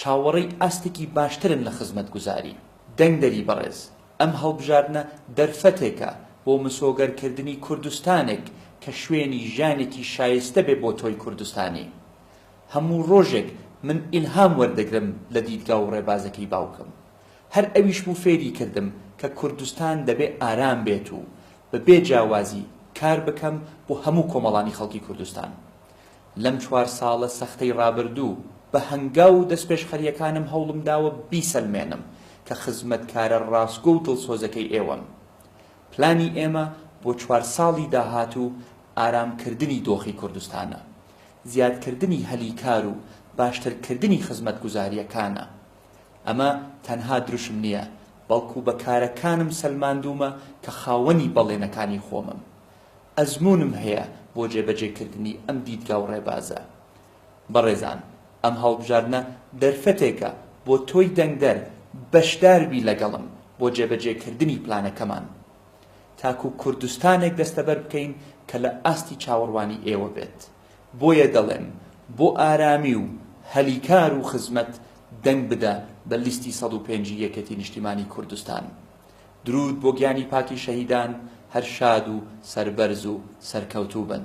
چاوەڕێی ئاستێکی باشترن لە خزمەتگوزاری. دەنگدەری بەڕێز، ئەم هەڵبژاردنە دەرفەتێکە بۆ مسۆگەرکردنی کوردستانێک کە شوێنی ژیانێکی شایستە بێ بۆ تۆی کوردستانی. هەموو ڕۆژێک من ئیلهام وەردەگرم لە دیدگا و ڕێبازەکەی باوکم. هەر ئەویش بوو فێری کردم کە کوردستان دەبێ ئارام بێت و بە بێ جیاوازی کار بکەم بۆ هەموو کۆمەڵانی خەڵکی کوردستان. لەم چوار ساڵە سەختەی ڕابردوو، بە هەنگاو و دەستپێشخەرییەکانم هەوڵم داوە بیسەلمێنم کە خزمەتکارە ڕاستگۆ و دڵسۆزەکەی ئێوەم. پلانی ئێمە بۆ چوار ساڵی داهاتوو ئارامکردنی دۆخی کوردستانە، زیادکردنی هەلی کار و باشترکردنی خزمەتگوزارییەکانە. ئەمە تەنها دروشم نییە، بەڵکو بە کارەکانم سەلماندوومە کە خاوەنی بەڵێنەکانی خۆمم. ئەزموونم هەیە بۆ جێبەجێکردنی ئەم دیدگا و ڕێبازە. بەڕێزان ئەم هەڵبژاردنە دەرفەتێکە بۆ تۆی دەنگدەر بەشدار بی لەگەڵم بۆ جێبەجێکردنی پلانەکەمان تاکو کوردستانێک دەستەبەر بکەین کە لە ئاستی چاوەڕوانی ئێوە بێت بۆیە دەڵێم بۆ ئارامی و هەلی کار و خزمەت دەنگ بدە بە لیستی سەد و پێنج ی یەکێتی نیشتیمانی کوردستان. درود بۆ گیانی پاکی شەهیدان هەر شاد و سەربەرز و سەرکەوتوو بن.